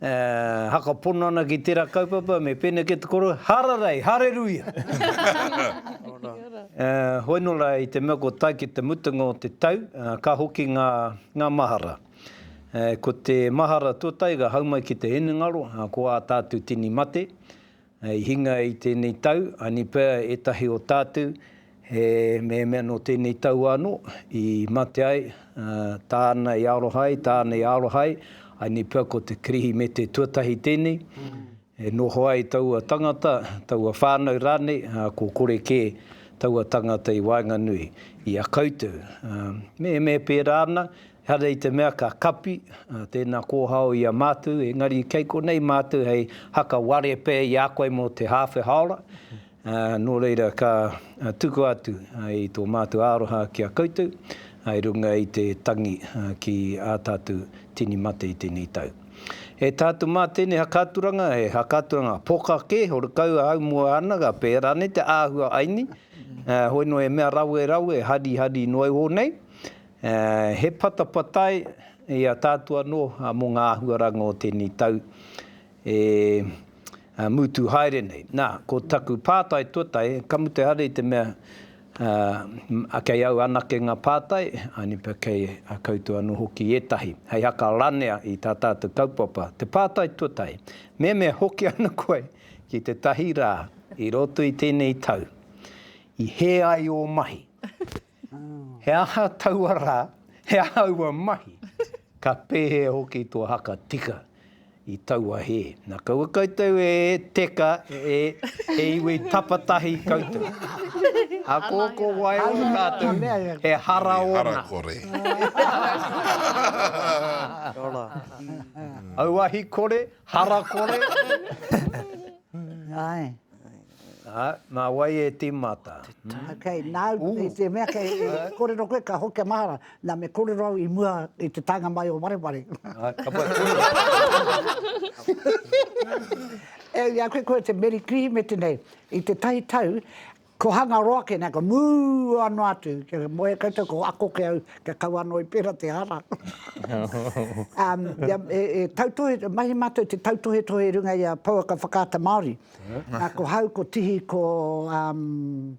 E hakapono ana ki tera kaupapa me pene ke te koro, Hararei! Hareruia! E hoi no ra i te mea kua tae ki te mutunga o te tau, ka hoki nga nga mahara. E ko te mahara to taiga hau mai ki te hinengaro, ko a tatu tini mate. I hinga i tēnei tau, anipea ētahi o tātou, he mehemea nō tēnei taua anō, i mate ai, ā, tāna i aroha ai, tāna i aroha ai, anipea ko te Kirihimete tuatahi tēnei, e noho ai taua tangata, taua whānau rānei, ā, ko kore kē taua tangata i waenganui i a koutou. Ā, me, me pērā ana, Ehara i te mea ka kapi tēnā kōhao i a mātou, engari kei konei mātou hei haka ware pē i a koe mō te hāwhe haora, nō reira ka tukua atu i tō mātou aroha ki a koutou i runga i te tangi ki ā tātou tini mate i tēnei tau. E tātou mā tēnei hakaturanga he hakaturanga poka kē, horekau ahau mua ana ka pērā nei te āhua aini, hoi noa he mea rawe rawe, hari hari noa iho nei, He patapatai i a tātou anō mō ngā āhuaranga o tēnei tau e mutu haere nei. Nā, ko taku pātai tuatahi, ka mutu ehara i te mea kei au anake ngā pātai, anipa kei a koutou anō hoki ētahi, hei haka ranea i tā tātou kaupapa. Te pātai tuatahi, me mea hoki ana koe ki tētahi rā i roto i tēnei tau i hē ai ō mahi? He aha taua rā, he aha aua mahi, ka pēhea hoki tō haka tika i taua hē. Na kaua koutou e teka e he iwi tapatahi koutou. Ako ko wai o tātou, he hara ōna. He hara kore. Auahi kore, hara kore. Ae. Ā, nā wai e tīmata? Ok, nāu, i te mea kei kōrero koe, ka hokia mahara, nā me kōrero au i mua i te taenga mai o Wareware. Ā, ka pai kōrero. E ai koe, koe te Meri Kirihimete nei, i te tahi tau, ko Hangaroa kē, nā, ka mua noa atu, kia moe koutou, ko ako kē au, kia kaua anō i pērā te hara. Ā, e tautohe, mahi mātou te tautohetohe i runga i a pouaka whakaata Māori. Nā, ko hau, ko Tihi, ko, um,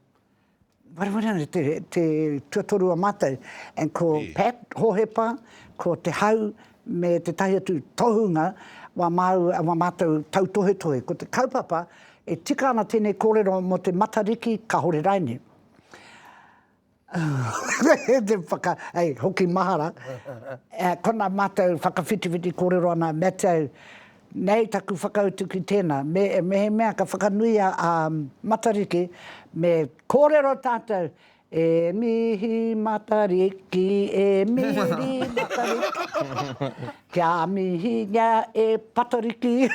wharever her name, te, te tuatoru a mātou, and ko Pat Hohepa, ko Te Hau, me tētahi atu tohunga wā māu, wā mātou tautohetohe. Ko te kaupapa, e tika ana tēnei kōrero mō te Matariki, kāore raine. Hei hoki mahara, kona matou whakawhitiwhiti korero ana me tau, nei taku whakautu ki tena, mehemea ka whakanui a Matariki me korero tatou, E mihi Matariki, e mihi Matariki. Kia mihingia e Patariki.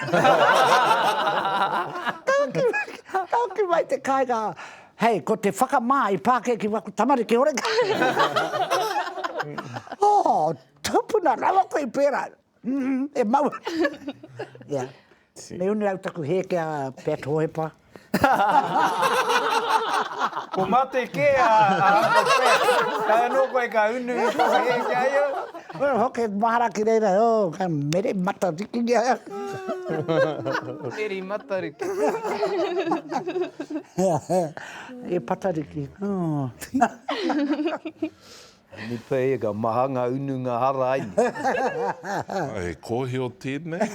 Ka hoki mai te kāinga, Hei, ko te whakamā i pākēki waku tamariki horekau. Oh, tupuna rawa koe i pērā. Mm, e mau ana. Yeah. Me uni au taku hē ki a Pat Hohepa. Ko mate kē a Uncle Pat. Kai anō koe ka unu i tō hē ki a ia? Kua hoki mahara ki reira, oh, ka mere Matariki ki a ia. Meri Matariki. E Patariki, oh. Nipa e, ka maha nga unu nga hara ai ni. Ai, he kohio tenei.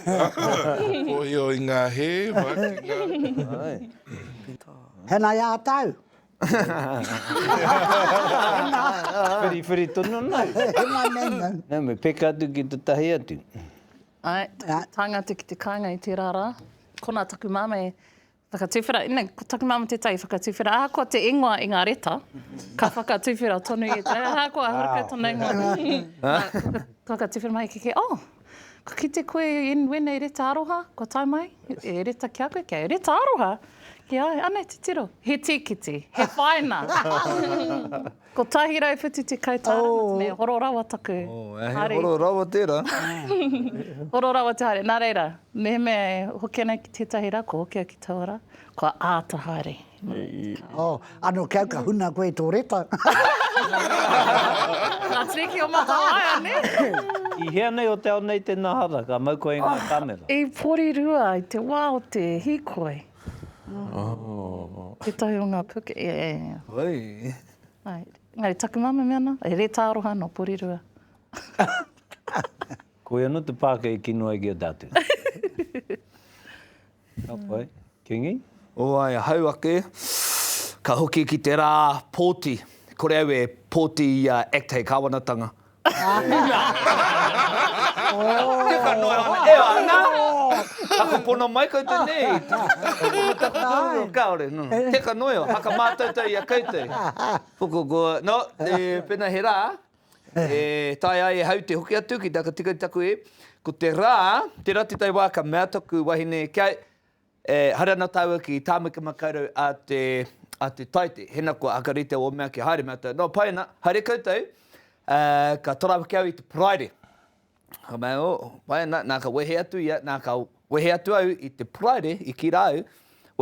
Kohio i nga he, wa ki nga. Ai. Tena ia tau. Whiriwhiri tonu ana. Hema mena. Na, me peka atu ki te tahi atu. Ai, taku tangata ki te kainga i tera ra. Kona taku mame, Whakatuwhera, ina, ko taku mama tētahi whakatuwhera, ahakoa te ingoa i ngā reta, ka whakatuwhera tonu i ētahi, ahakoa e horekau tōna ingoa, ka whakatuwhera mai kē kē, oh, kua kite koe i wēnei reta aroha, kua tae mai, he reta ki a koe, kei a au, reta aroha? Ki a au, anei titiro, he tīkiti, he whaina. Kotahi rau whitu tekau tāra mā tēnei, horo rawa taku haere. Horo rawa tērā. Horo rawa te haere. Nā reira, mehemea e hoki ana ki tētahi rā, kua hoki au ki taua rā, kua āta haere. Oh, ano ke au ka huna koe i tō reta. Ngā tiriki o Matawaia, nē? I hea nei o te ao nei tēnā hara, ka mau koe i ngā kāmera? I Porirua, i te wā o te hīkoi. Oh. Tētahi o ngā puke, e. Oi. Engari, taku mama me ana, e rētā aroha nō Porirua. Koia nō te pāke e kino ai ki a tātou. Ka pai. Kingi? Oai, ahau ake. Ka hoki ki te rā pōti. Kore au e pōti i a ACT hei kāwanatanga. Teka noa ana, e ana! Ako pono mai koutou nei! Ko taku korero, kaore, no. Teka noa eo, haka mātoutou i a koutou. Puku, ko, no, e, pena he rā, e tae ai e hau te hoki atu ki te aka tika i taku e, ko te rā, tera te tai wā ka mea taku wahine kia, E haere ana tāua ki Tāmaki Makaurau a te, a te Taite. Hena kua aka rite ō mea kia haere mātou. Nō pai ana, haere koutou, ā, ka toro awaki au i te Paraire. Ka mea, ō, pai ana, nā ka wehe atu ia, nā ka wehe atu au i te Paraire, i kī rā au,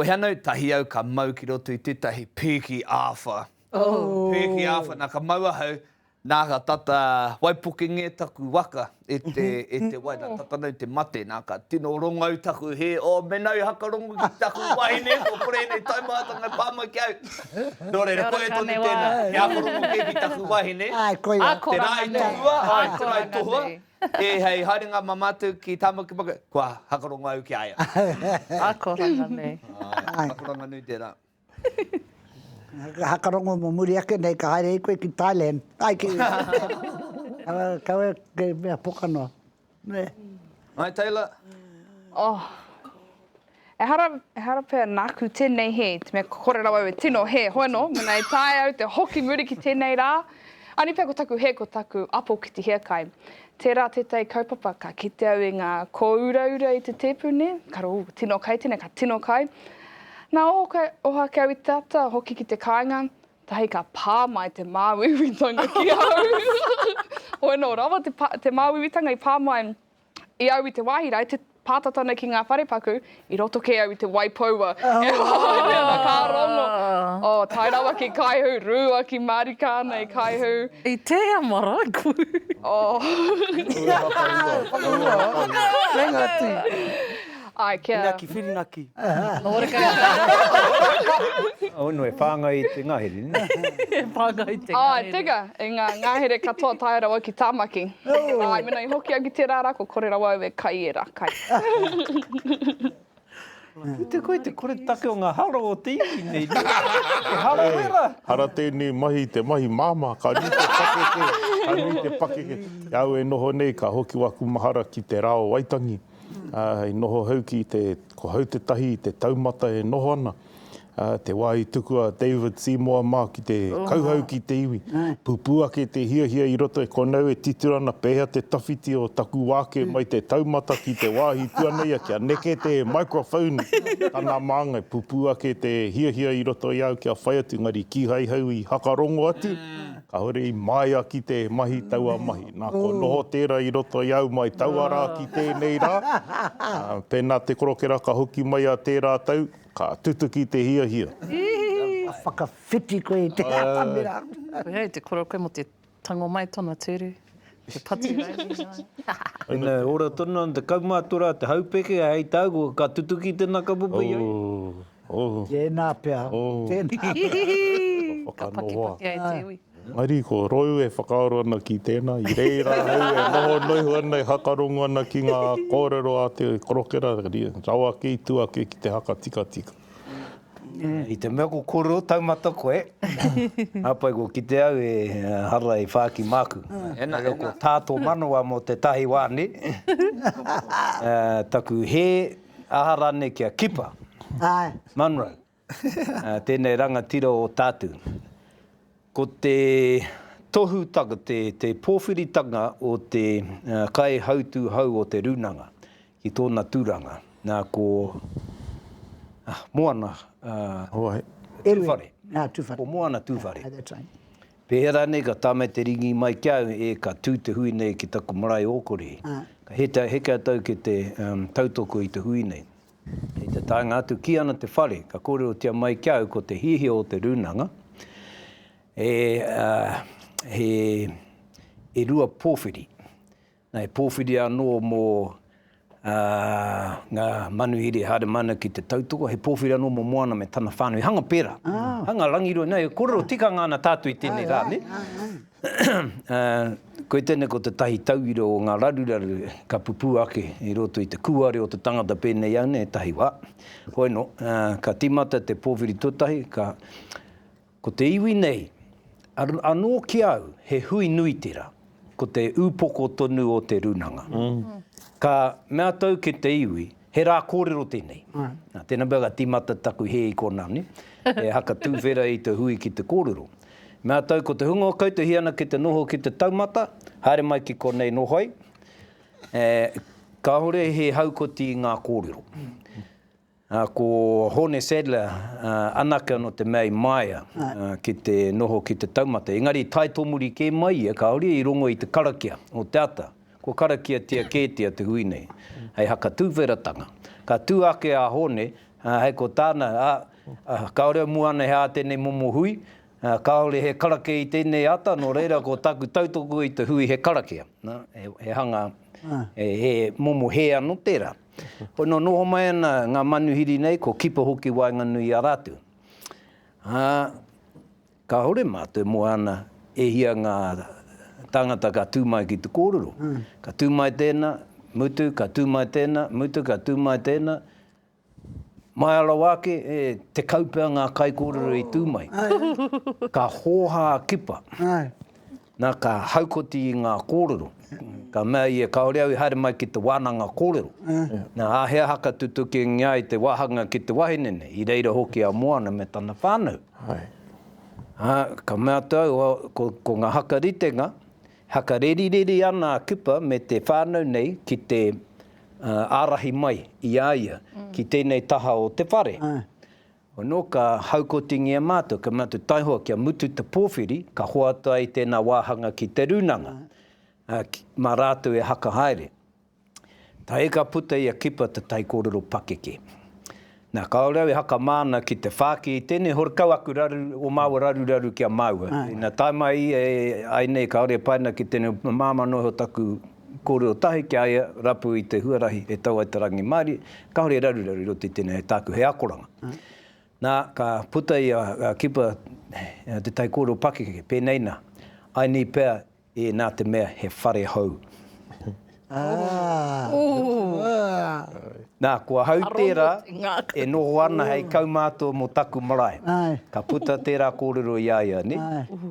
wehe ana au tahi au ka mau ki roto i tētahi pēki āwha. Pēki āwha, nā ka mau ahau, Nā ka tata waipuke ngē taku waka e te, e te wai, nā tata nei te mate, nā ka tino rongau taku hē, oh mena i hakarongo ki taku wahine, kua kore ēnei taumahatanga e pā mai ki a au. Nō reira, koia tonu tēnā, he hakarongo kē ki taku wahine, te rā i tohua, āe, te rā i tohua, e hei haerenga mā mātou ki Tāmaki Makaurau, kua hakarongo au ki a ia. Akoranga nui. Akoranga nui tērā. Ka hakarongo mo muri ake nei ka haere i koe ki Thailand ai ki kawe kei mea poka noa nē. Ngai Taylor. Oh Ehara ehara pea naku tenei he te mea kore rawa au e tino he hoa no mena e taea au te hoki muri ki tenei ra. Ani pea ko taku he ko taku apo ki te hiakai. Tērā tētahi kaupapa ka kite au i ngā kōuraura i te tēpu nei, ka rō, tino kai tēnei, ka tino kai. Nā, oho, oho ake au i te ata, hoki ki te kāinga, tahi ka pā mai te māuiuitanga ki au. Hoi anō, rawa te māuiuitanga i pā mai i au i te wāhi rā, i te Pāta tonu ki ngā wharepaku, i roto kē au i te wai poua. He wāhanga ka rongo. Oh, tae rawa ki Kaihū, rua ki Marika ana i Kaihū. I tēhea maraiku? Oh. Rua whakaua. Rua whakaua. Kei ngā tī. Ai, kia. Inaki, whirinaki. Horekau kāre. Oh, no, e whāngai i te ngahere, nē? E whāngai i te ngahere. Oh, teka, i ngā ngahere katoa tae rawa ki Tāmaki. Āe, mēnā i hoki au ki tērā rā, kua kore rawa au e kai ērā kai. Ko te koe te koretake o ngā haro o te iwi nei, nē? He haro wera! Hara tēnei mahi, te mahi māmā, ka nui te pakeke, ka nui te pakeke. I a au e noho nei, ka hoki waku mahara ki te rā o Waitangi, hei noho hou ki te, ko hau tētahi i te taumata e noho ana. Te wā i tuku a David Seymour mā ki te kauhau ki te iwi, pupū ake te hiahia i roto i konau e titiro ana pēhea te tawhiti o taku wāke mai te taumata ki te wāhi tuana ia kia neke te maikrowhoni tana māngai, pupū ake te hiahia i roto i au kia whai atu engari kīhai hau i hakarongo atu. Kāore i māia ki te mahi taua mahi. Nā, kua noho tērā i roto i au mai taua rā ki tēnei rā. Pēnā te korokera ka hoki mai a tērā tau, ka tutuki te hiahia. Ka whakawhiti koe i te atamira. Koinei te koroke mō te tango mai tōna ture. He patu rauemi noa. Ina ora tonu ana te kaumātua te haupeke hei tāua ka tutuki tēnā ka pupu i a ia. Oh oh. Tēnā pea. Oh. Tēnā pea. Ka pakipaki ai te iwi. Engari ko Rou e whakaaro ana ki tēnā, i reira au e noho noiho ana e hakarongo ana ki ngā kōrero a te korokera rawa kei tua ake ki te haka tikatika. I te mea ko koro taumata koe, hapai ko kite au e hara e whāki māku. Kore ko tā tō manawa mō te tahi wā ne? Taku hē aha rānei kia kipa. Munro, tēnei rangatira o tātu. Ko te tohutanga, te pōwhiritanga o te kaihautūhau o te rūnanga Ki tōna tūranga, nā, ko, ah, Moana, ah, Tūwhare. Nā, Tūwhare. Ko Moana Tūwhare. That's right. Pēhea rānei ka tāmai te rīngi mai ki au, e, ka tū te hui nei ki taku marae o Kori. Ka heta, heke a tau ki te, um, tautoko i te hui nei. Hei te taenga atu, kī ana te whare, ka kōrerotia mai ki au ko te hiahia o te rūnanga, e, ah, he, he rua pōwhiri. He pōwhiri anō mō ngā manuhiri Haeremanea ki te tautoko, he pōwhiri anō mō Moana me tana whānau, hanga pērā, hanga rangirua, nā, e kōrero tikanga ana tātou i tēnei rā, nē? Koe tēnei ko te tahi tauira o ngā raruraru ka pupū ake i roto i te kūare o te tangata pēnei au nei, tahi wā. Hoi nō, ka tīmata te pōwhiri tuatahi, ka Ko te iwi nei, anō ki au, he hui nui tera, ko te upoko tonu o te runanga. Ka mea tau ke te iwi, he ra korero tenei. Tena pea ka timata taku he i kona, ne? E haka tuwhera i te hui ki te korero. Mea tau ko te hunga o koutou hia na ki te noho ki te taumata, haere mai ki konei noho ai. Kahore he haukoti i nga korero. Ā, ko Hōne Sadler anake anō te mea i māia ki te noho ki te taumata, engari i tae tōmuri kē mai ia kāore i rongo i te karakia o te ata. Kua karakiatia kētia te hui nei hei haka tuwheratanga. Ka tū ake a Hōne, ā, hei ko tāna, ā, kāore au mua ana he ā tēnei momo hui, ā, kāore he karakia i tēnei ata, nō reira ko tāku tautoko i te hui he karakia, nā, he hanga, he momo hē anō tērā. Koinā noho mai ana ngā manuhiri nei, ko Kipa hoki waenganui i a rātou. Ā, kāore mātou e moa ana e hia ngā tāngata ka tū mai ki te kōrero. Ka tū mai tēnā, mutu, ka tū mai tēnā, mutu, ka tū mai tēnā. Māia rawa ake, e tekau pea ngā kaikōrero i tū mai. Ka hōhā a Kipa. Na, ka haukoti i nga korero, ka mea ia, Kaore au i haere mai ki te wananga korero. Na, a he aha ka tutukingia ai te wahanga ki te wahine nei, i reira hoki a Moana me tana whanau? A, ka mea atu au, ko, ko nga haka ritenga, haka rerireri ana a Kupa me te whanau nei ki te arahi mai i a ia ki tenei taha o te whare. Ono ka haukotingia matou, ka mea matou taihoa kia mutu te powhiri ka hoata ai tena wahanga ki te runanga, a, ma ratou e haka haere. Tae ka puta ia kipa te taikorero pakeke. Na, kaore au e haka mana ki te whaki i tenei horekau aku raru, o maua raruraru ki a maua. Ina tae mai ia e ai nei kaore e pai ana ki tenei mamamanohi o taku I kōrero tahi ki a ia, rapu i te huarahi e tau ai te rangimārie, kāore e raruraru i roto i tēnei hei tāku hei akoranga. Nā, ka puta ia, ka kipa te taikōrero pakeke, pēnei nā, I need pea e nā te mea he whare hou. Nā, kua hau tērā e noho ana hei kaumātua mō taku marae. Ka puta tērā kōrero i a ia, nē?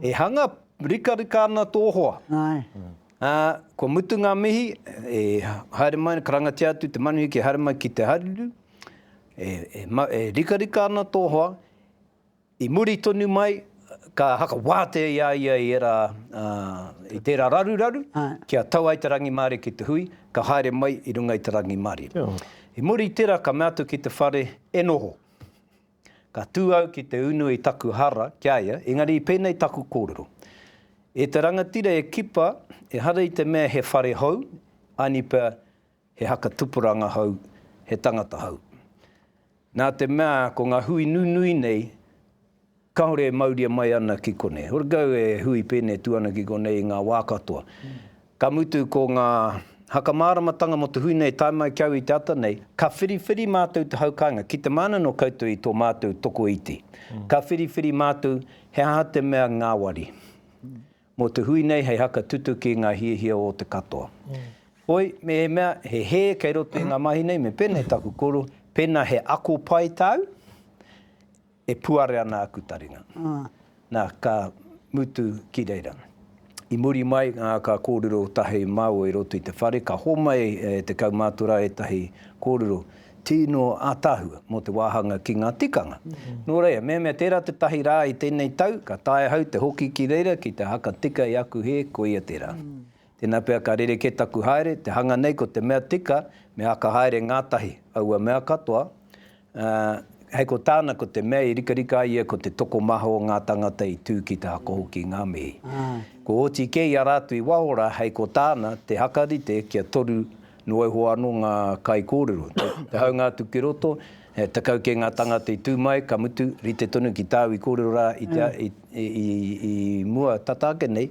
E hanga rikarika ana tō hoa. Ā, kua mutu ngā mihi, e haere mai, karangatia atu te manuhiri kia haere mai ki te haruru, e, e, e rikarika ana tō hoa, i muri tonu mai, ka hakawātea i a ia i ērā, ā, i tērā raruraru, kia tau ai te rangimārie ki te hui, ka haere mai i runga i te rangimārie. I muri i tērā ka mea atu ki te whare, e noho. Ka tū au ki te unu i taku hara ki a ia, engari i pēnei taku kōrero. E te rangatira e kipa, ehara i te mea he whare hou, aini pea he haka tupuranga hou, he tangata hou. Nā te mea ko ngā hui nunui nei, kāore e mauria mai ana ki konei. Horekau e hui pēnei atu ana ki konei i ngā wā katoa. Ka mutu ko ngā haka māramatanga mō te hui nei tae mai ki au i te ata nei, ka whiriwhiri mātou te hau kāinga, ki te māna nō koutou i tō mātou tokoiti. Ka whiriwhiri mātou he aha te mea ngāwari mō te hui nei hei haka tutuki i ngā hiahia o te katoa. Hoi, mehemea he hē kei roto i ngā mahi nei, me pēnei taku koro, pēnā he ako pai tāu, E puare ana aku taringa. Na, ka mutu ki reira. I muri mai, ka kōrero tahi māua i roto i te whare, ka homai e te kaumātua ētahi kōrero tīno ātaahua mō te wāhanga ki ngā tikanga. Nō reira, mehemea tērā te tahi rā i tēnei tau, ka tae ahau te hoki ki reira ki te haka tika i aku hē, koia tērā. Tēnā pea ka rerekē taku haere, te hanga nei ko te mea tika me āka haere ngātahi aua mea katoa, ā, hei ko tāna ko te mea i rikarika ai ia ko te tokomaha o ngā tāngata i tū ki te ako hoki i ngā mihi. Kua oti kē i a rātou i waho rā hei ko tāna te hakarite kia toru noa iho anō ngā kaikōrero. Te haunga atu ki roto, he tekau kē ngā tāngata i tū mai, ka mutu, rite tonu ki tāu i kōrero rā i mua tata ake nei,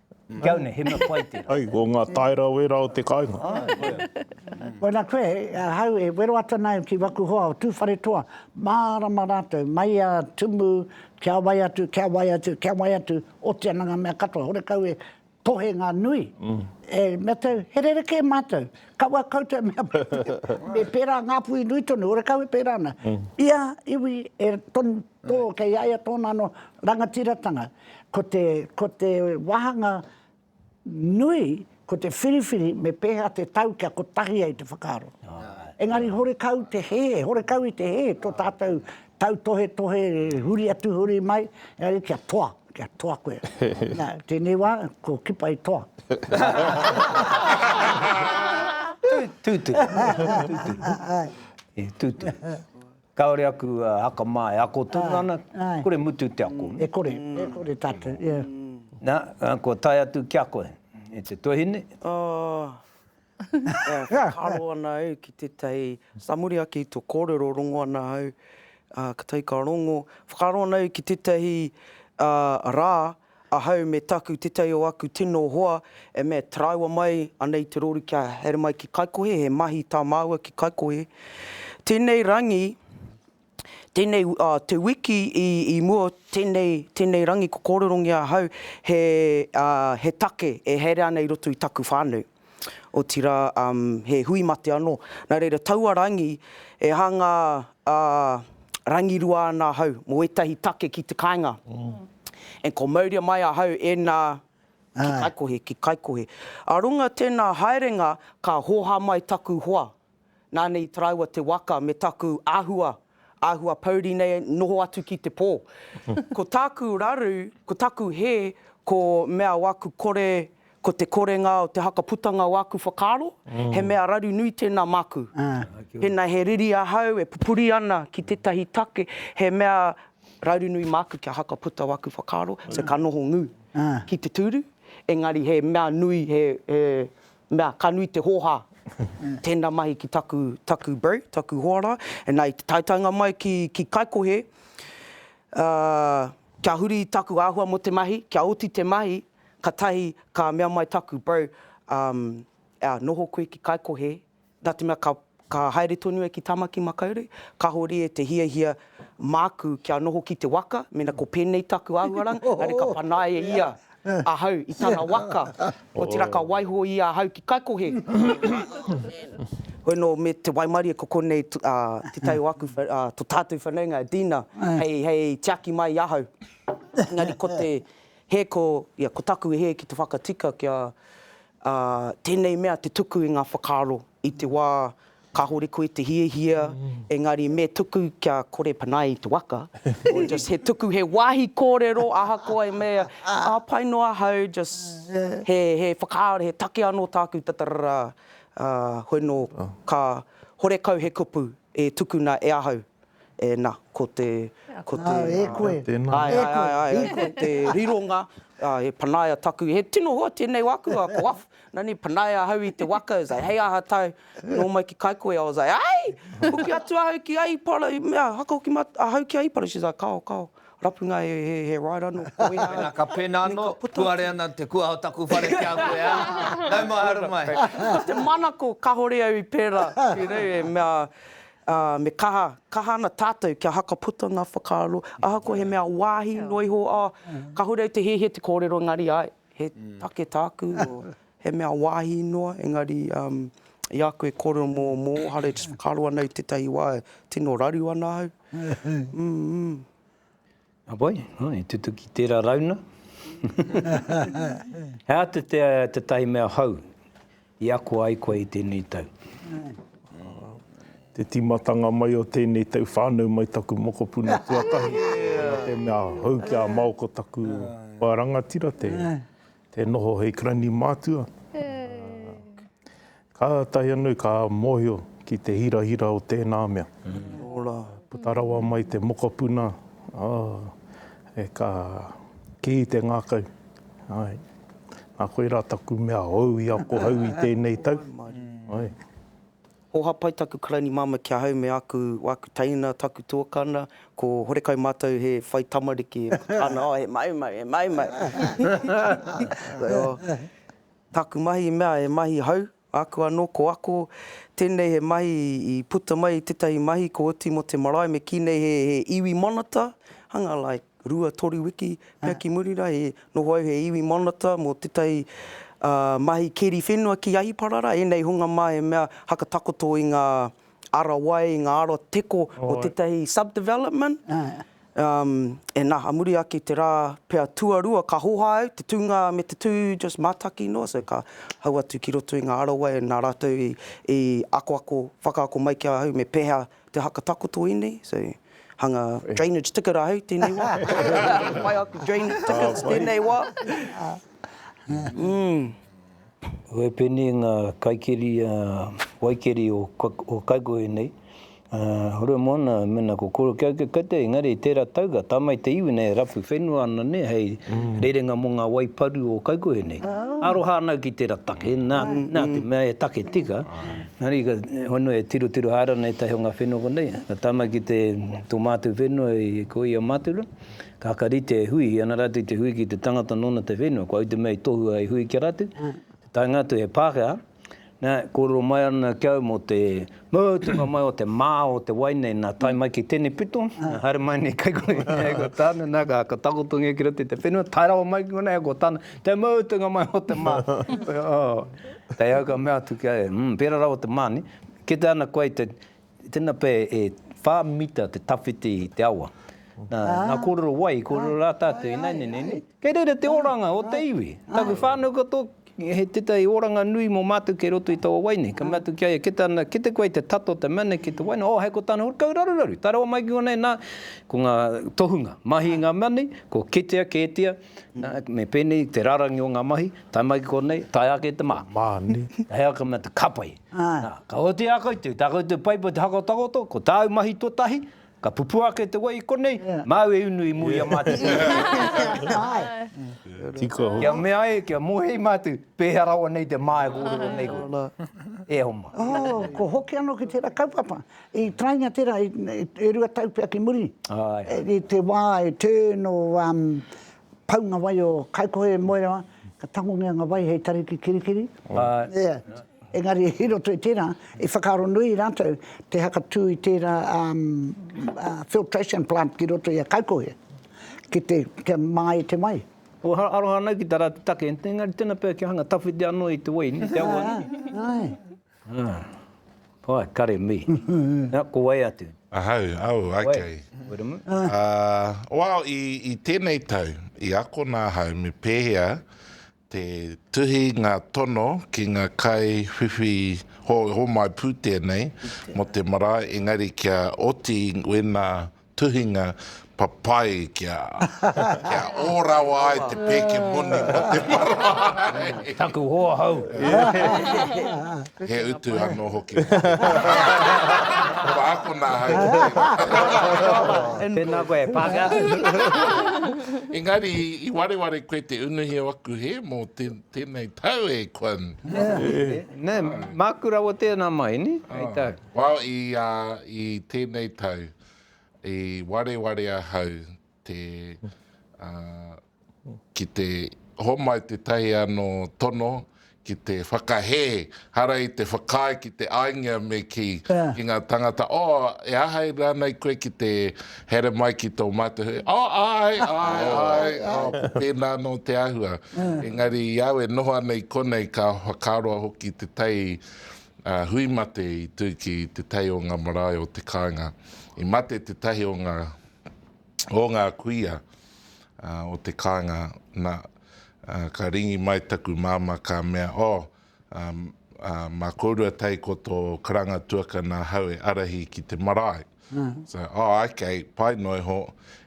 Go na he mea pai tera. Ai, ko nga taera wera o te kainga. Ai, koia. Koina koe, ahau e wero atu ana ki waku hoa o Tuwharetoa, marama ratou, mai a Tumu, kia wai atu, kia wai atu, kia wai atu, oti ana nga mea katoa, horekau e tohe nga nui, e mea tau, he rerekē matou, kaua koutou e mea pai, me pera ngapuhi nui tonu, horekau e pera ana. Ia iwi e tonu Tō, kei a ia tōna anō rangatiratanga. Ko te, ko te wāhanga nui, ko te whiriwhiri me pēhea te tau kia kotahi ai te whakaaro. Engari horekau te hē, horekau i te hē tō tātou tautohetohe huri atu, huri mai, engari kia toa, kia toa koe. Nā, tēnei wā, ko Kipa i toa. Tūturu. Tūturu. Tūturu. Kaore aku haka ma e ako tonu ana, kore mutu te ako. E kore, e kore tatou, ia. Na, kua tae atu ki a koe, e te tuahine. E whakaaro ana au ki tetahi, sa muri ake i to korero, rongo ana au, ka tae ka rongo, whakaaro ana au ki tetahi ra, Ahau me taku tetei o aku tino hoa e mea te rāua mai ana i te rori kia haere mai ki Kaikohe, he mahi tā māua ki Kaikohe. Tēnei rangi, tēnei, te wiki i mua, tēnei, tēnei rangi ko kōrerongia ahau he, he take e haere ana i roto i taku whānau. otirā he hui mate anō. Nā reira, taua rangi, e hanga rangirua ana ahau mō ētahi take ki te kāinga. And ko mauria mai ahau e nā, ki Kaikohe, ki Kaikohe. A runga tēnā haerenga, ka hōha mai taku hoa, Nāna i taraiwa te waka me taku āhua, āhua pouri nei noho atu ki te pō. Ko tāku raru, ko taku hē, ko mea o aku kore, ko te korenga o te hakaputanga o aku whakaaro, he mea raru nui tēnā māku. Pēnā he riri ahau e pupuri ana ki tētahi take, he mea raru nui māku kia hakaputa o aku whakaaro, so ka noho ngū ki te tūru, engari he mea nui, he, he. mea ka nui te hōhā. Tēnā mahi ki taku, taku bro, taku hoara, nā i te taetaenga mai ki, ki Kaikohe, uh, kia huri i taku āhua mō te mahi, kia oti te mahi, katahi ka mea mai taku bro, um, ea, noho koe ki Kaikohe, Nā te mea ka haere tonu e ki Tāmaki Makaurau, kāore e te hiahia māku kia noho ki te waka, mena ko pēnei taku āhuaranga, engari ka panaia e ia ahau i tana waka, otirā ka waiho ia ahau ki Kaikohe. Hoi nō me te waimarie ko konei te tai o aku, to tātou whanaunga, Dina, hei tiaki mai i ahau. Engari ko te. He ko, ia, ko taku hē ki te whakatika kia, ā, tēnei mea te tuku i ngā whakaaro i te wā kāore koe te hiahia, engari me tuku kia kore panaia i te waka, or just he tuku, he wāhi kōrero ahakoa i mea, ā, pai noa ahau, just he, he whakaaro, he take anō tāku ta tarara, ā, hoi nō ka horekau he kupu e tukuna e ahau, Ēnā, ko te, ko te... Ā, e koe, e koe. Āe, āe, āe, āe, āe, ko te rironga, ā, e panaia taku, he tino hoa tēnei wā aku, ā, ko af, nā, nē, panaia ahau i te waka, he zei, hei aha tāu, nō mai ki Kaikohe, I was like, Aī! Hoki atu ahau ki Aipara, i mea, haka hoki ma, ahau ki Aipara, she's like, Kao, kao, rapunga he, he, he ride anō, ko wēhā. Pēnā ka pēnā anō, puare ana te kuaha o taku whare ki a koe, ā, nau mai, haere mai. Ko te manako, kāore au i pērā, ki rei, e mea, ā, me kaha, kaha ana tātou kia haka puta ngā whakaaro, ahakoa he mea wāhi noa iho, ā, kāore au te hiahia te kōrero, engari āe, he take tāku, he mea wāhi noa, engari, um, i a koe e kōrero mō Mōhare, just whakaaro ana i tētahi wā, tino raru ana au, mm. Wai, i tutuki tērā rauna. He āta te tētahi mea hou i ako ai koe i tēnei tau. Te tīmatanga mai o tēnei tau whānau mai taku mokopuna tuatahi. He āta te mea hou ki a Mao ko taku wā rangatira te. Te noho hei karaini mātua. Kātahi anu ka mōhio ki te hirahira o tēnā mea. Ora, puta rawa mai te mokopuna, oh, ka kī te ngākau, ai, nā koirā taku mea hou i ako hou i tēnei tau. Ai. Ko Hapai taku karaini mama ki ahau me aku aku teina taku tuakana ko horekau matou he whai tamariki ana oh he maumau he maumau taku mahi i mea he mahi hau aku ano ko ako tenei he mahi i puta mai tetahi mahi ko oti mo te marae me ki nei he he iwi manata hanga like. rua, toru wiki, pea ki muri rā, he noho au he iwi monita mō tētahi mahi keri whenua ki Ahiparara, ēnei hunga mā he mea haka takoto i ngā ara wai, i ngā ara teko o tētahi sub-development. E nā, a muri ake i te rā pea tuarua ka hoha au, te tūnga me te tū just mātaki noa, so ka hau atu ki roto i ngā ara wai, nā rātou i akoako, whakaako mai ki ahau me pēhea Te haka takoto inei, so hanga drainage ticket ahau tenei wa. Pai aku drainage tickets tenei wa. He pēnei ngā kaikiri waikeri o Kaikohe nei, hore moana mena ko kore kia eke koutou engari tērā tau ka tamai te iwi nei e rapu whenua ana nei hei rerenga mo ngā wai paru o Kaikohe nei. Aroha ana au ki tērā take, nā te mea e take tika, Engari, ka hono e tirotiro haere ana ētahi o ngā whenua konei, ka tama ki te, tō mātou whenua i, ko ia Matura, ka whakarite e hui, i ana rātou i te hui ki te tangata nōna te whenua, kua ute mea i tohua hei hui ki a rātou, te taenga atu he Pākehā, nā, kōrero mai ana ki au mō te mutunga mai o te mā o te wai nei, nā, tae mai ki tēnei pito, nā, haere mai nei kei konei, hei ko tāna, nā, ka, ka takoto ngia ki roto i te whenua, tae rawa mai ki konei, hei ko tāna, Te mutunga mai o te mā. Kei au ka mea atu ki a ia, mm, pērā rawa te mā, nē? Kite ana koe i te, tēnā pea e whā mita te tawhiti i te awa. Nā, nā kōrero wai, kōrero rā tātou, ināianei nei, nē? Kei reira te oranga o te iwi. Taku whānau katoa, he tētahi oranga nui mō mātou kei roto i taua wai nei. Ka mea atu ki a ia, kite ana, kite koe i te tato, te mana ki te wai nei, oh, hei ko tāna, kau raruraru, tae rawa mai ki konei, nā, ko ngā tohunga, mahi i ngā mea nei, kua kitea, kētia, Me pēnei te rārangi o ngā mahi, tae mai ki konei, tae ake te mā. Mā, nē. He aha mea te kapai. Ka oatia koutou, tā koutou paipai te hakotakoto, ko tāu mahi tuatahi, ka pupū ake te wai i konei, māu e unu i muri a mātou. Tika hoki. Kia mea ai, kia mōhei mātou, pēhea rawa nei te mā e kōrero nei koe. E hoa mā. Ko hoki anō ki tērā kaupapa. I taenga tērā e rua tau pea ki muri, i te wā e turn o pau ngā wai o Kaikohe, Moerewa, ka tangongia ngā wai hei tari ki Kirikiri. Engari i roto i tērā, i whakaaro nui rātou te hakatū i tērā filtration plant ki roto i a Kaikohe, kia māi te wai. Kua aroha anake tā rātou take, engari tēnā pea kia hanga tawhiti anō i te wai, te awa. Ah. Pai, kare, me. Na, ko wai atu? Ahau, au, ai kei. Wiremu. Ah, wao, i, i tenei tau, i akona ahau me pehea te tuhi nga tono ki nga kai whiwhi ho, homai putene mo te marae, engari kia oti wena tuhinga papai kia kia ō rawa ai te pēke moni mō te marae. Taku hoa hau. He utu anō hoki. Kua akona ahau ki tēnā. Tēnā koe e Pākehā. Engari i wareware koe te unuhi o aku hē mō tēnei tau e Quinn. Nē, māku rawa tēnā mai, nē, hei tau. Well, i, ā, i tēnei tau, i wareware ahau te, ā, ki te homai tētahi anō tono ki te whakahē, hara i te whakaae ki te āingia me kī ki ngā tāngata, Oh, e āhei rānei koe ki te haere mai ki tō mātou hui? Oh, āe, āe, āe, oh, ko tēnā anō te āhua. Engari i au e noho ana i konei ka whakaroa hoki tētahi hui mate i tū ki te tae o ngā marae o te kāinga. I mate tētahi o ngā, o ngā kuia o te kāinga, nā, ka ringi mai taku māmā ka mea, oh, mā kōrua tae ko tō karanga tuakana hau e arahi ki te marae. So, oh, okay, pai noa iho.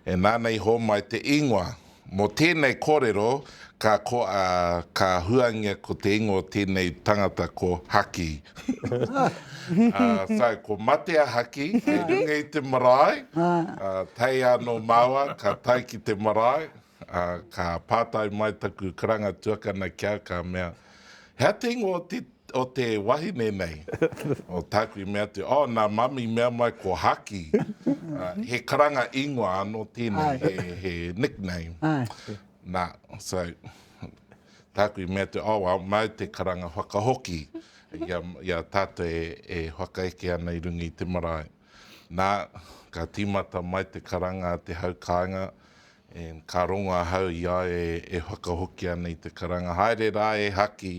E nāna i hōmai te ingoa. Mō tēnei kōrero, ka, ko, a, ka huangia ko te ingoa o tēnei tangata ko Haki. uh, so, ko Matea Haki, kei runga i te marae. Uh, tei anō māua, ka tai ki te marae. Ā, ka pātai mai taku karanga tuakana ki a, ka mea, He atu ingoa o te, o te wahine nei? o tāku i mea atu, Oh, nā Mami i mea mai ko Haki. Ā, he karanga ingoa anō tēnei, he, he nickname. Nā, so, tāku i mea atu, Oh, well, māu te karanga whakahoki i a, i a tātou e, e whakaeke ana i runga i te marae. Nā, ka tīmata mai te karanga a te hau kāinga, and ka rongo ahau i a e, e whakahoki ana i te karanga, Haere rā e Haki,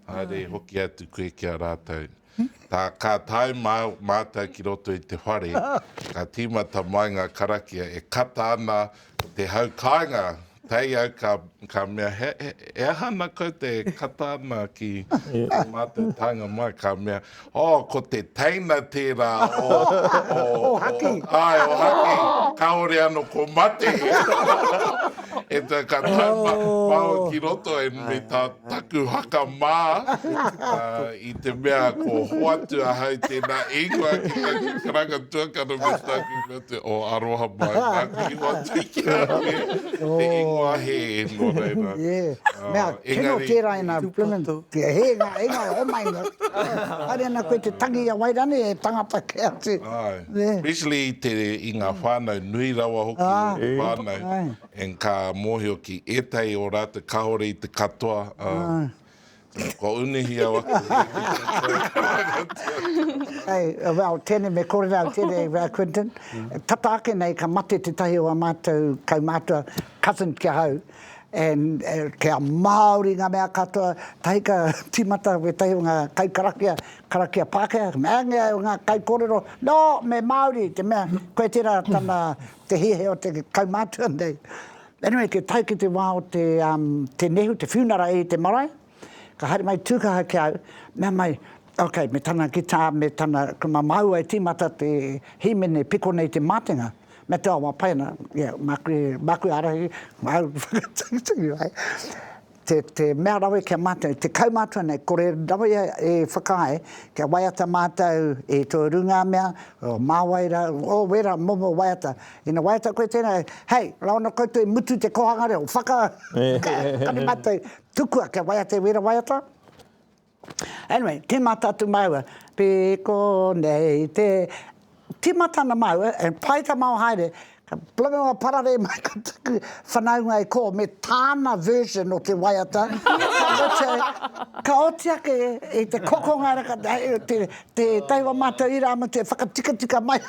haere e hoki atu koe ki a rātou. Tā, ka tae mā, mātou ki roto i te whare, ka tīmata mai ngā karakia e kata ana, Te hau kāinga, tae au ka, ka mea, he, he, he aha ana kau te kata ana ki te mātou tānga mai, ka mea, oh, ko te teina tērā o, o, o, haki. Ai, o haki, kāore ano ko mate. e tā, ka tau oh. pao ki roto e me tā Taku haka mā, i te mea ko hoatu ahau tēnā e ingoa ki taku karanga tuakana me tāku ko te o aroha mai nāku i hoatu i ki a koe te ingoa hē nō reira engari especially i ngā whānau nui rawa hoki o te whānau And ka mōhio ki ētahi o rātou kāore i te katoa. Āe. Kua unuhiau aku hei ki katoa. Hei, well, tēnei me kore rā, tēnei rā Quinton. Tata ake nei ka mate tētahi o ā mātou kaumātua, cousins ki ahau, and kia Māori ngā mea katoa, tahi ka tīmata wētahi o ngā kaikarakia, karakia Pākehā, ka mea, āngia e ngā kaikōrero, no, me Māori, te mea, koe tērā tana Te hiahia o te kaumātua nei. Anyway, kia tae ki te wā o te, um, te nehu, te whiunara i te marae, ka haere mai tūkaha ki au, mea mai, ok, me tana guitar, me tana, ko mā māua e tīmata te hīmene piko nei te mātenga, mea te awa pai ana, yeah, māku e, māku e ārahi, māu whakatangitangi ai. te, te mea rawe ki a mātou, te kaumātua nei, kore rawe e whakaae, kia waiata mātou i tō runga mea, o māwaira, o wera momo waiata. Ina waiata koe tēnā, hei, raono koutou i mutu te kōhanga reo, whaka, kare mātou, tukua kia waiata e wera waiata. Anyway, timata atu maua, piko nei te, timata ana maua, e pai ta mao haere, ka blow pararei mai ko taku whanaunga e ko, me tana version o te waiata, ka oti ake i te kokonga, Te taiwa matou i ra mo te whakatikatika mai te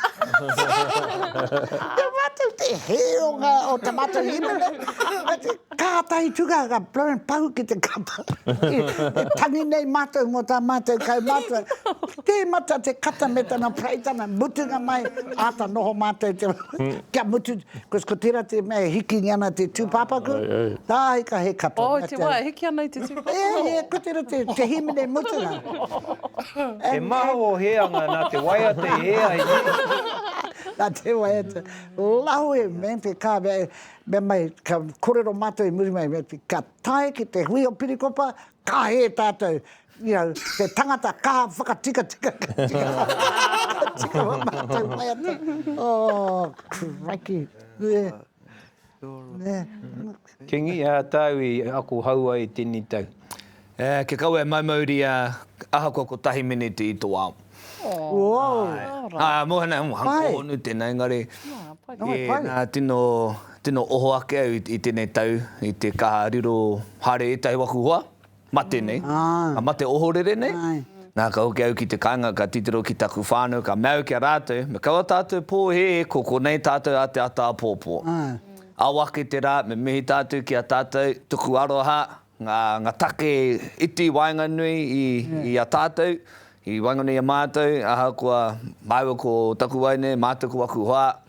matou te heonga o ta matou himene ka tahi tuga ka blown pahu ki te kapa e tangi nei matou mo ta matou kaumatua temata te kata me tana praitana mutunga mai ata noho matou te kia mutu Because ko tera te mea e hikingi ana te tupapaku, tahi ka he kapa. Oh, te wa e hiki ana i te tupapaku. Yeah, yeah, ko tera te, te himene mutunga. He maha o Heanga na te waiata e ea i te. Na te waiata. Lawe, man, te ka mea, mea mai, ka korero matou i muri mai, ka tae ki te hui o Pirikopa, ka he tatou, You know, te tangata kaha whakatikatika ka tika ka tika ma matou waiata. Oh, crikey. Yeah. Yeah. Kingi, ā tāu i ako hau ai tēnei tau? Kia kaua e maumauri ahakoa kotahi miniti i tō ao. Āe. Mōhena, hōhonu tēnā engari nā tino tino oho ake au i tēnei tau i te kaha riro haere ētahi waku hoa. Mate nei, ka mate ohorere nei. Nā, ka hoki au ki te kāinga, ka titiro ki taku whānau, ka mea au ki a rātou, me kaua tātou pōhēhē, ko konei tātou a te ata apōpō. Ao ake te rā, me mihi tātou ki a tātou, tuku aroha, ngā, ngā take iti waenganui i, i a tātou, i waenganui i a mātou, ahakoa māua ko taku wai nei, mātou ko aku hoa,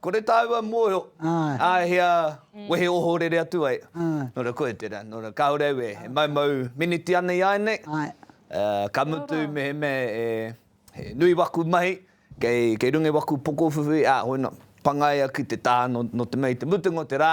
Kore tāua mōhio, āhea wehe ohorere atu ai. Nō reira, koia tērā, nō reira, kāore au e maumau miniti ana i a ēnei, ka mutu mehemea he nui waku mahi, kei runga i waku pokowhiwhi, ā, hoina, pangaia ki te taha nō te mea i te mutunga o te rā,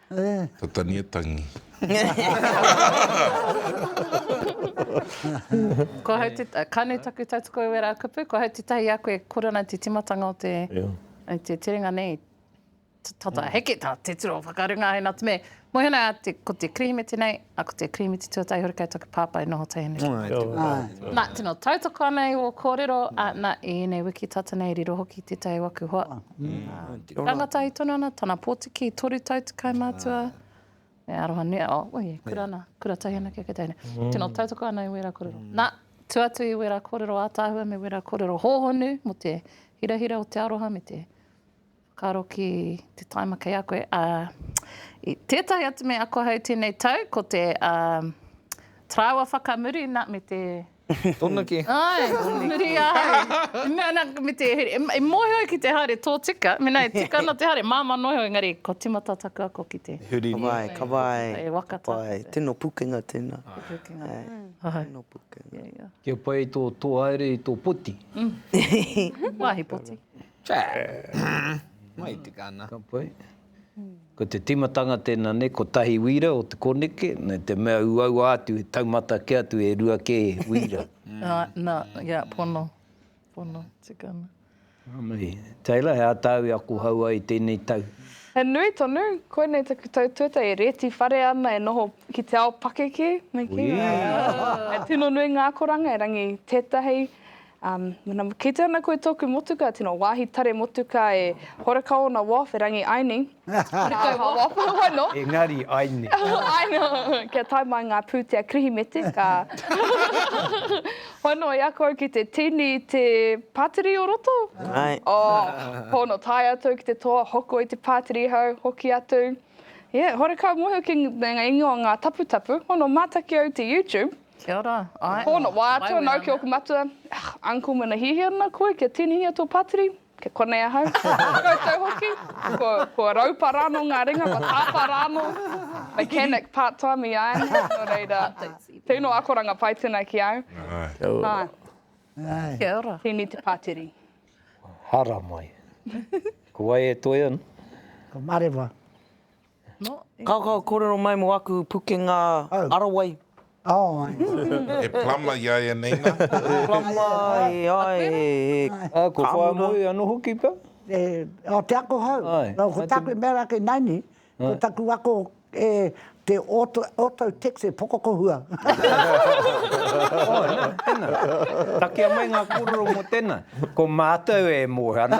Te tani e tangi. Kua hau te, ka nui taku tautoko e wera kupu, kua hau te tahi i a koe, kore ana te timatanga o te, o te terenga nei, tata heke ta te tiro whakarunga hei natu me. Mohi ana, ko te Kerehimete nei, A ko te Kirimiti Tuatahi hoki kei taku pāpā i noho tēnei. Āe, tēnā koe tātou. Nā, tino tautoko ana i wō kōrero, ā, nā, i ēnei wiki tata nei i riro hoki i tētahi o aku hoa. Ā, rangatahi tonu ana, tana pōtiki, toru tau te kai mātua, me aroha nui, ā, oh, oi e, kura ana, kura tahi anake kei tēnei. Tino tautoko ana i wērā kōrero. Nā, tū atu i wērā kōrero ātaahua me wērā kōrero hōhonu mō te hirahira o te aroha me te. Ka roki te taima kei a koe. I tētahi atu mea ako ahau tēnei tau, ko te tarāwa whakamuri, nā, me te. Tonu ki. Āe, muri ahau. Nā, nā, me te, e mōhio au ki te haere tōtika, mēnā e tika ana te haere, māmā noa iho, engari kua tīmata taku ako ki te. Huri nei. Ka wai, ka wai. E waka taku. Ka wai, tino pukenga tēnā. Tino pukenga. Āe. Tino pukenga. Kia pai tō haere i tō poti. Wāhi poti. Mai te kana. Ka pai. Ko te timatanga tēnā nei, ko tahi wīra o te koneke, me te mea uaua atu, he taumata kē atu, e rua kē wīra. Na, ia, pono. Pono te kana. Ka mahi. Taylor, he aha tāu e ako hou ai i tēnei tau? He nui tonu. Koinei taku tau tuatahi e rēti whare ana, e noho ki te ao pakeke. Me kī, he tino nui ngā akoranga, erangi tētahi. Mena kite ana koe toku motuka tino wahi tare motuka e Horakao na Wharf e Rangi Aini. Horakau na Wharf e wano. Engari Aini. Aini. Kia tae mai nga putea Kirihimete ka whano i a koe ki te tini i te patiri o roto. Aye. Oh pono tae atu ki te toa hoko i te patiri hau hoki atu. Yeah Horakau mohi hoki nga ingoa nga taputapu. Pono mataki au te YouTube. Kia ora, ae. Pono, wā atu ana au ki ōku matua, Ugh, uncle mena hihia ana koe kia tinihia tō pātiri, kei konei ahau. Koutou hoki, ko, ko raupa rānō ngā ringa, ko tāpā rānō, mechanic part time i āianei, nō reira, tino akoranga pai tēnā ki au. Kia ora. Ae. Kia ora. Tēnei te pātiri. Haramai. Ko wai e toe ana? Ko Marewa. Kaokao korero mai mo aku pukenga arawai. He plumber i a ia nei na. Plumber e ai e ka. Ko Whāmoe ano hoki ka? O te ako hou. No ko taku mea ra kei naini, ko taku ako e te auto text e pokokohua. Takea mai nga korero mo tena. Ko mātou e moe ana,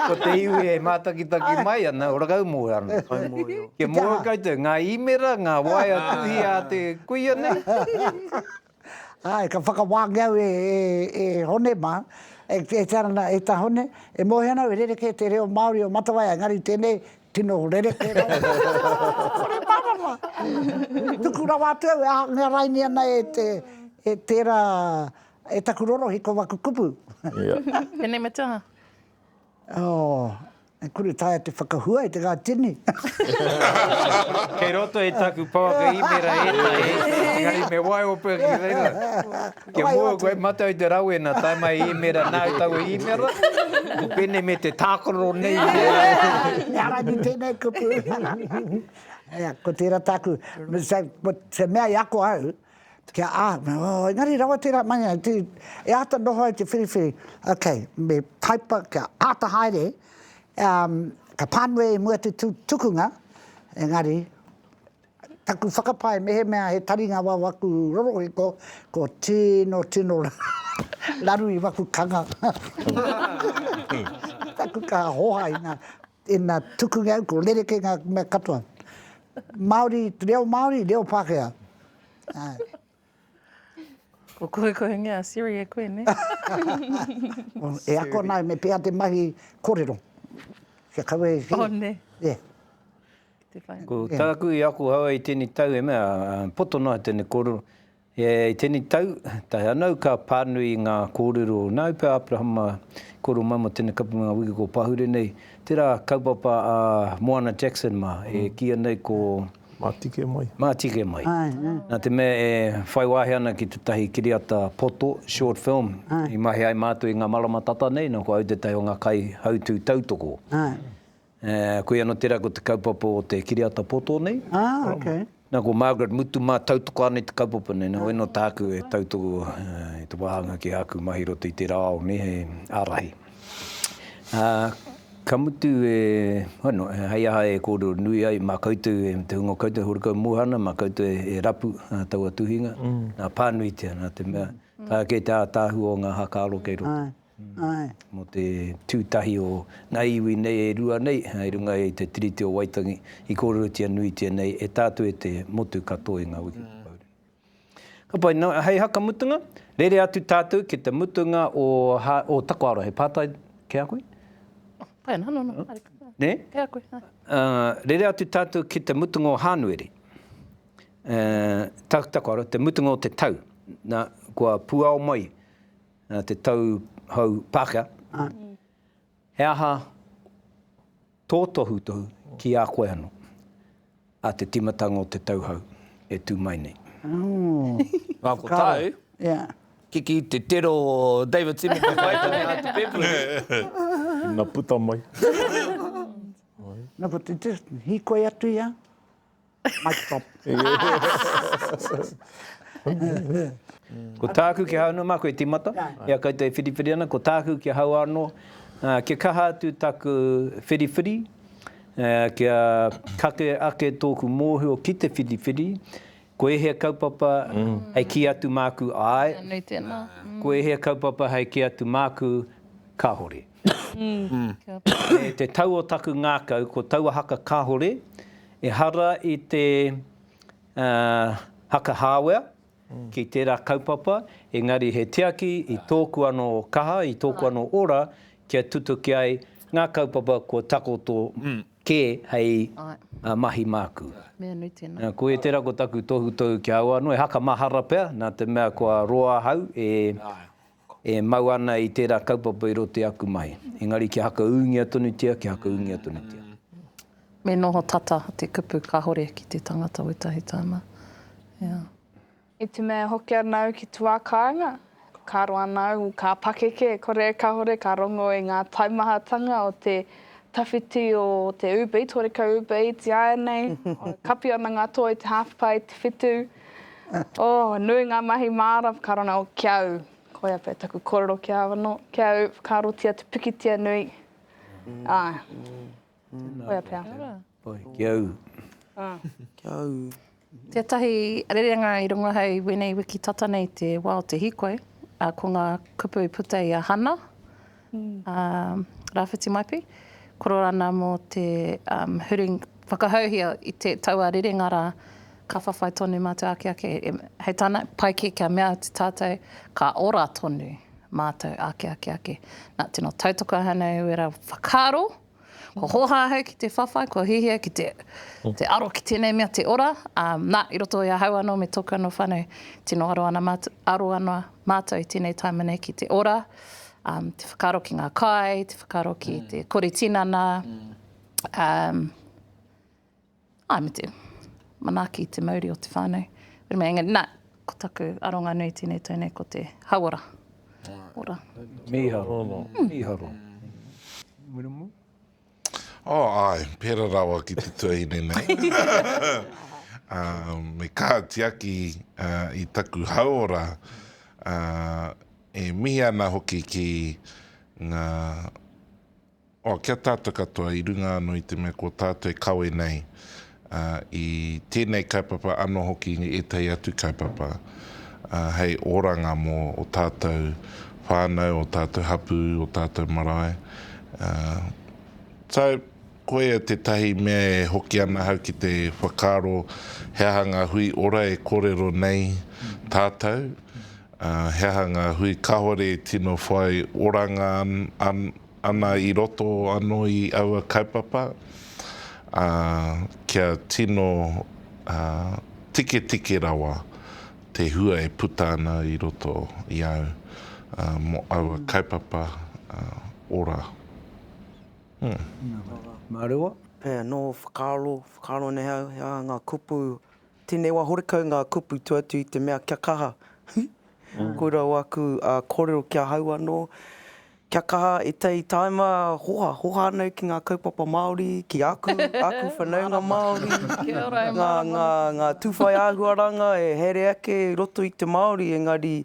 ko te iwi e mātakitaki mai ana, orakau moe ana. Kia moe koutou, ngā īmera, ngā waea tuhi a te kuia nei. Āe, ka whakawāngi au e, e, e Hone mā, e, e te ara nā, e tā Hone, e moe ana au e rerekē te reo Māori o Matawai, engari tēnei tino rerekē rawa. Kore mārama! Tuku rawa atu au e ahangarainia ana e te, e tērā, E taku rorohi ko waku kupu. Tenei me te aha? Oh, e kore taea te whakahua e te ga tini. Kei roto i taku pouaka imera etahi, engari me waio pea ki reira. Kia mua koe matau i te rawena, tae mai i imera nāu taua imera, ko penei me te tākororo nei i te rā. He ara ki tenei kupu. Ko tera taku, ko te mea i ako au, Kia āhua, oh, engari rawa tērā mania, tī, e āta noho ai te whiriwhiri, ok, me taipa, kia āta haere, um, ka pānui i mua te tu, tukunga, engari, taku whakapae mehemea he taringa wau aku rorohiko, ko tino, tino raru i waku kanga. taku kaha hoha i nga Ina tukungia au, ko rerekē ngā mea katoa. Māori, reo Māori, reo Pākehā. Ko kohekohengia a Siri e koe, nē? E ako ana au me pēhea te mahi kōrero. Kia kaua e kī. Oh, nē. Yeah. Ko tāku i ako haua i tēnei tau e mea, poto noa tēnei kōrero, I tēnei tau, tae anau ka pānui ngā kōrero nāu pea Aperahama kōrero mai mō tēnei kapunga wiki kua pahure nei, tērā kaupapa a Moana Jackson mā e kīia nei ko. Mātike mai. Mātike mai. Nā te mea e whai wāhi ana ki tētahi kiriata poto, short film, i mahi ai mātou i ngā marama tata nei, nō ko au tētahi o ngā kaihautū tautoko. Koia anō tērā ko te kaupapa o te kiriata poto nei. Nā, ko Margaret Mutu mā tautoko ana i te kaupapa nei. Nō ēnō tāku e tautoko i te wāhanga ki āku mahi i roto i tērā ao nei hei ārahi. Ka mutu e, hono, hei aha e kōrero nui ai mā koutou, me te hunga o koutou e horekau moha ana, mā koutou e rapu taua tuhinga, nā, pānuitia, nā te mea, taea kē te ātaahua o ngā haka aro kei roto. mō te tū tahi o ngā iwi nei e rua nei i runga i te Tiriti o Waitangi i kōrerotia nuitia nei e tātou e te motu katoa i ngā wiki whakauru. Ka pai, nō hei hakamutunga, rere atu tātou ki te mutunga o o takoaro, he pātai ki a koe? Pai ana, nō, nō, haere. Nē? Ki a koe, ā. Rere atu tātou ki te mutunga o Hānuere, takoaro, te mutunga o te tau, nā, kua puao mai nā te tau hou Pākehā, ā, he aha tō tohutohu ki a koe anō, ā te tīmatanga o te tau hou e tū mai nei? Ngā kotau, kiki te tero o Davidson i te whaitane a te pēpū. Ina puta mai. Nā, ko te test, hīkoi atu i a. Mic drop. Ko tāku ki ahau anō, māku e tīmata, i a koutou e whiriwhiri ana, ko tāku ki ahau anō, kia kaha atu taku whiriwhiri, kia kake ake tōku mōhio ki te whiriwhiri, ko ēhea kaupapa hei kī atu māku āe, ko ēhea kaupapa hei kī atu māku kāore. E te tau o taku ngākau ko taua haka kahore, ehara i te haka hāwea ki tērā kaupapa, engari he tiaki i tōku anō kaha, i tōku anō ora kia tutuki ai ngā kaupapa kua takoto kē hei mahi māku. Koia tērā ko taku tohutohu ki a au anō, he haka mahara pea, nā te mea kua roa ahau e E mau ana i tērā kaupapa i roto i aku mahi. Engari kia hakaūngia tonutia, kia hakaūngia tonutia. Me noho tata te kupu kahore ki te tangata wetahi tana. Yeah. I te mea e hoki ana au ki te wā kāinga, ka roa ana au, ka pakeke, kore kahore ka rongo i ngā taimahatanga o te tawhiti o te Uber Eats, horekau Uber Eats ieanei, kapi ana ngā toa i te half pai, te whitu. Oh, nui ngā mahi māra whakarona o Kia Au. Koia pea taku kōrero ki a au anō, Kia Au, whakaarotia te pikitia nui. Āe. Koia pea. Oi, Kia Au. Kia Au. Tētahi rerenga i runga hei wēnei wiki tata nei te wā o te hīkoi, ko ngā kupu i puta i a Hana. a Rawhiti Maipi, Kororana mō te huring whakahouhia i te taua rerenga rā, ka whawhai tonu mātou ake ake hei tāna, pai kē kia mea atu tātou ka ora tonu mātou ake ake ake. Nā, tino tautoko ahau nei wera whakaaro. Kua hōhā ahau ki te whawhai, kua hiahia ki te, te aro ki tēnei mea te ora, ā, nā, i roto i ahau anō me tōku anō whānau, tino aro ana mātou, aro ana mātou i tēnei taima nei ki te ora, ā, te whakaaro ki ngā kai, te whakaaro ki te kore tinana, ā, Āe, me te manaaki, te mauri o te whānau. Engari, nā, ko taku aronga nui tēnei tau nei ko te hauora. Ora. Mīharo. Mīharo. Wiremu? Oh, āe, pērā rawa ki te tuahine nei. Me kaha tiaki i taku hauora, e mihi ana hoki ki ngā Oh, ki a tātou katoa, i runga anō i te mea ko tātou e kawe nei i tēnei kaupapa anō hoki i ētahi atu kaupapa hei oranga mō o tātou whānau, o tātou hapū, o tātou marae. So, koia tētahi mea e hoki ana ahau ki te whakaaro he aha ngā hui ora e kōrero nei tātou. He aha ngā hui kāore e tino whai oranga ana i roto anō i aua kaupapa, ā, kia tino tiketike rawa te hua e puta ana i roto i au mō aua kaupapa ora? Mā rewa. He aha ngā whakaaro, whakaaro nei au, he aha ngā kupu Tēnei wā horekau ngā kupu tua atu i te mea kia kaha, huh? Koirā wāku kōrero ki ahau anō, kia kaha e Tei Taima hoha, hoha anō ki ngā kaupapa Māori, ki aku, aku whanaunga Māori, ngā tūwhai āhuaranga e haere ake i roto i te Māori, engari,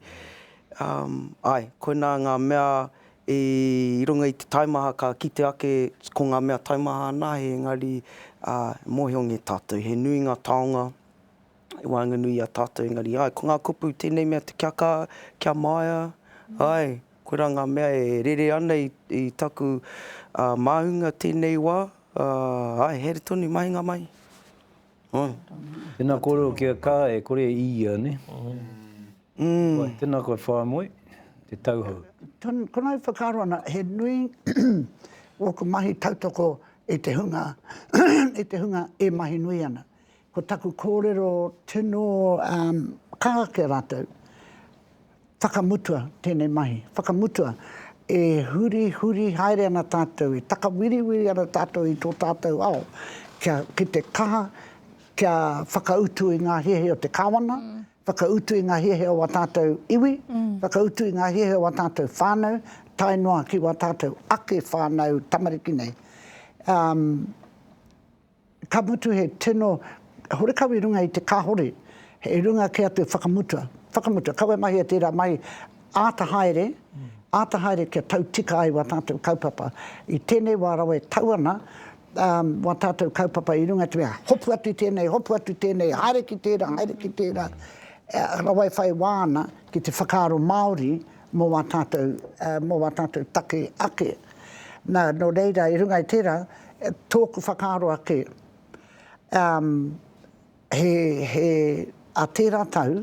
āe, koinā ngā mea I runga i te taimaha ka kite ake ko ngā mea taimaha anahe engari e mōhio nge tātou he nui ngā taonga i waenganui i a tātou engari āe ko ngā kupu tēnei mea te kia kā, kia maea, āe koirā ngā mea e rere ana i taku māhunga tēnei wā, āe haere tonu mahinga mai. Tena korero ki a ka e kore e ia ne. Wai tena koe Whaimoe, te tauhou. Kona e whakaaro ana he nui oku mahi tautoko i te hunga i te hunga e mahi nui ana. Ko taku korero tino ka ake ratou Whakamutua tēnei mahi, whakamutua e hurihuri haere ana tātou, e takawiriwiri ana tātou i tō tātou ao, kia, ki te kaha, kia whakautu i ngā hiahia o te Kāwana, whakautu i ngā hiahia o wā tātou iwi, whakautu i ngā hiahia o wā tātou whānau, tae noa ki wā tātou ake whānau tamariki nei. Um. Ka mutu he tino horekau i runga i te kahore, i runga kē atu whakamutua, whakamutua, kaua e mahia tērā mahi āta haere, āta haere kia tau tika ai wā tātou kaupapa. I tēnei wā rawa e tau ana wā tātou kaupapa i runga i te mea hopu atu i tēnei, hopu atu i tēnei, haere ki tērā, haere ki tērā, rawa e whai wā ana ki te whakaaro Māori mō wā tātou, mō wā tātou take ake. Nā, nō reira, i runga i tērā, Tōku whakaaro ake, umm, he, he, ā tērā tau,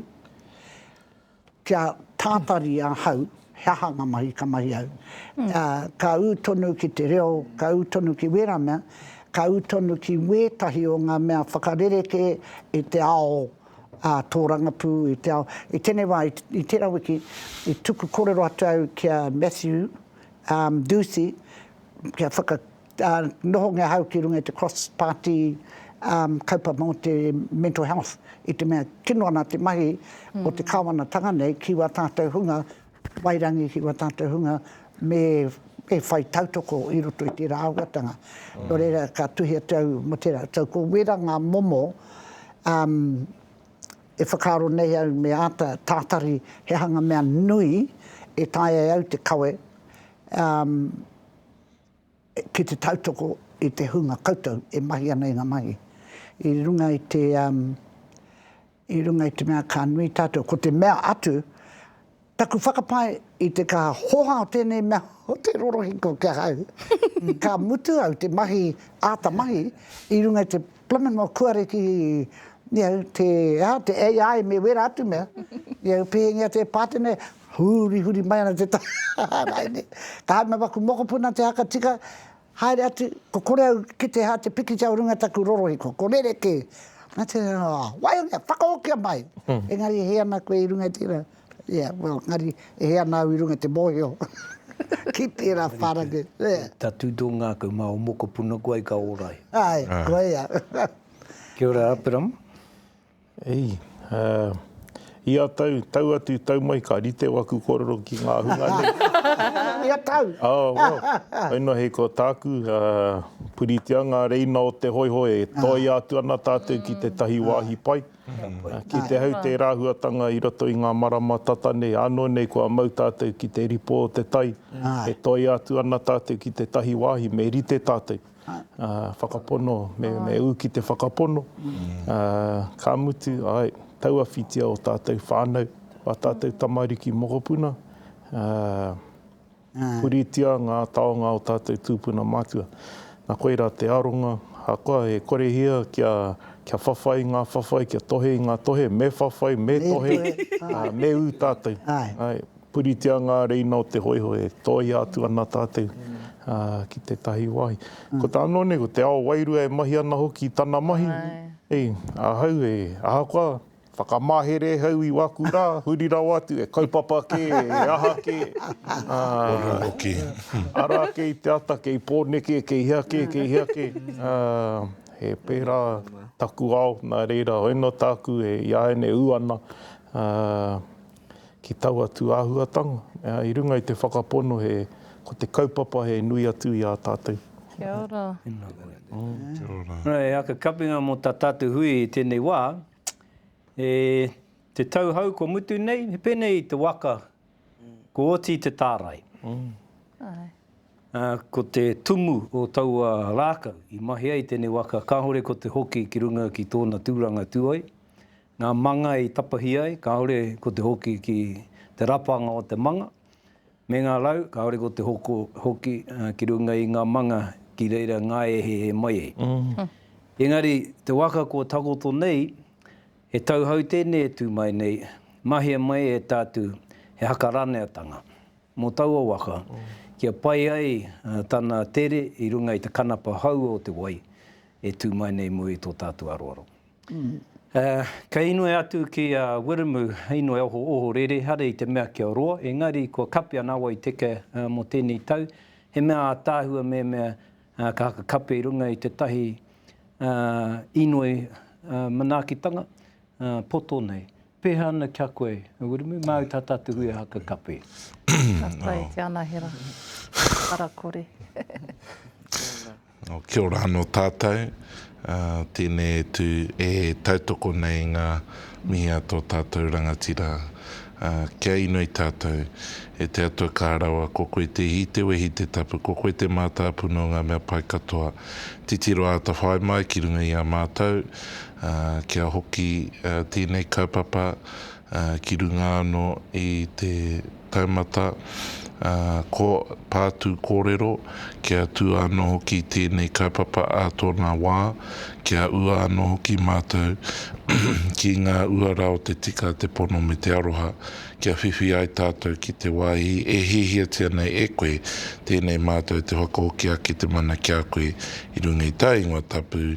kia tātari ahau, he aha ngā mahi ka mahi au. Ā, ka ū tonu ki te reo, ka ū tonu ki wērā mea, ka ū tonu ki wētahi o ngā mea whakarerekē i te ao ā tōrangapū, i te ao, i tēnei wā, i tērā wiki, i tuku kōrero atu au ki a Matthew, umm, Duthie, kia whaka, nohongia ahau ki runga i te cross-party kaupapa mō te mental health, i te mea tino ana te mahi o te Kāwanatanga nei ki wā tātou hunga wairangi, ki wā tātou hunga me e whai tautoko i roto i tērā āhuatanga. Nō reira, ka tuhi atu au mō tērā. So, ko wērā ngā momo e whakaaro nei au me āta tātari he hanga mea nui e taea e au te kawe, ki te tautoko i te hunga koutou e mahi ana i ngā mahi, i runga i te, i runga i te mea ka nui tātou, ko te mea atu, taku whakapae i te ka hoha o tēnei mea o te rorohiko ki ahau, ka mutu au te mahi, āta mahi, i runga i te Plumin mō kua reki you know, te, aha, te AI me wera atu mea, you know, pēhengia te pātene, hurihuri mai ana te taha raine. Ka haere mai waku mokopuna te haka tika, haere atu, ko kore au ki te ha te pikitia o runga taku rorohiko, ko rerekē. Nā te reo, oh, waihanga, whakahokia mai! Engari he ana koe i runga i tērā. Yeah, well, engari, e hē ana au i runga i te mōhio ki tērā whārangi. Yeah. Ka tū tō ngākau, mā ō mokopuna koa i ka ora ai. Āe, koa ia. Kia ora, Aperama. Eī, ia tau, tau atu, tau mai, ka rite waku kōrero ki ngā hunga nei. Ia tau? Oh, well, hei noa hei ko tāku, puritia ngā reina o te hoihoi, e toia atu ana tātou ki tētahi wāhi pai. Ki te hau tērā huatanga i roto i ngā marama tata nei, ānō nei kua mau tātou ki te ripo o te tai, e toia atu ana tātou ki tētahi wāhi me rite tātou, whakapono, me ū ki te whakapono, ka mutu, āe, tauawhitia ō tātou whānau, ā tātou tamariki mokopuna. Puritia ngā taonga o tātou tūpuna matua. Nā koirā te aronga, ahakoa he korehia kia whawhai i ngā whawhai, kia tohe i ngā tohe, me whawhai, me tohe, ā, me ū tātou. Āe. Puritia ngā reina o te hōiho e tōia atu ana tātou ki tētahi wāhi. Ko te anō nei, ko te ao wairua e mahi ana hoki i tana mahi, hei, ahau e, ahakoa Whakamahere hau i waku ra, huri rawa atu, e kaupapa ke, e aha ke, ah, ara ake i te ata kei Poneke, kei hea ke, kei hea ke, ah, he pera taku ao, na reira, hoina taku e iāiane u ana, ah, ki taua tū āhuatanga, ā, i runga i te whakapono he, ko te kaupapa he nui atu i ā tātou. Kia ora. Tēnā koe. Kia ora. Nō hei aka kapenga mō tā tātou hui i tēnei wā, e te tau hau kua mutu nei, he pēnei te waka, kua oti te tārai. Āe. Ā, ko te tumu o taua rākau i mahi ai tēnei waka, kāore ko te hoki ki runga ki tōna tūranga tuoi, Ngā manga i tapahi ai, kāore ko te hoki ki te rapanga o te manga, me ngā rau, kāore ko te hoko hoki ki runga i ngā manga ki reira ngāehehe mai ai. Engari, te waka kua takoto nei, he tauhou tēnei e tū mai nei, mahia mai e tātou he haka raneatanga mō taua waka kia pai ai tana tere i runga i te kanapa hou o te wai e tū mai nei mō i tō tātou aroaro. Kei inoi atu ki a Wiremu inoi oho ohorere hare i te mea kia roa, engari kua kape ana awa i teke mo tenei tau, he mea ataahua memea ka haka kape i runga i tetahi inoi manaakitanga poto nei. Peha ana kia koe, no wouldn't we mau ta tatu hui a haka kape. Ka pai te anahera. Ara kore. Nō, kia ora anō tātou. Tēnei atu e tautoko nei ngā mihi a tō tātou rangatira. Kia inoi tātou. E te Atua kā rawa, ko koe te ihi, te wehi, te tapu, ko koe te mātāpuna o ngā mea pai katoa. Titiro āta whai mai ki runga i a mātou, kia hoki tēnei kaupapa ki runga anō i te taumata pātū kōrero, kia tū anō hoki tēnei kaupapa ā tōna wā, kia ua anō hoki mātou ki ngā uara o te tika, te pono me te aroha, kia whiwhi ai tātou ki te wāhi e hiahiatia nei e koe, tēnei mātou te whakahoki ake te mana ki a koe i runga i tā ingoa tapu,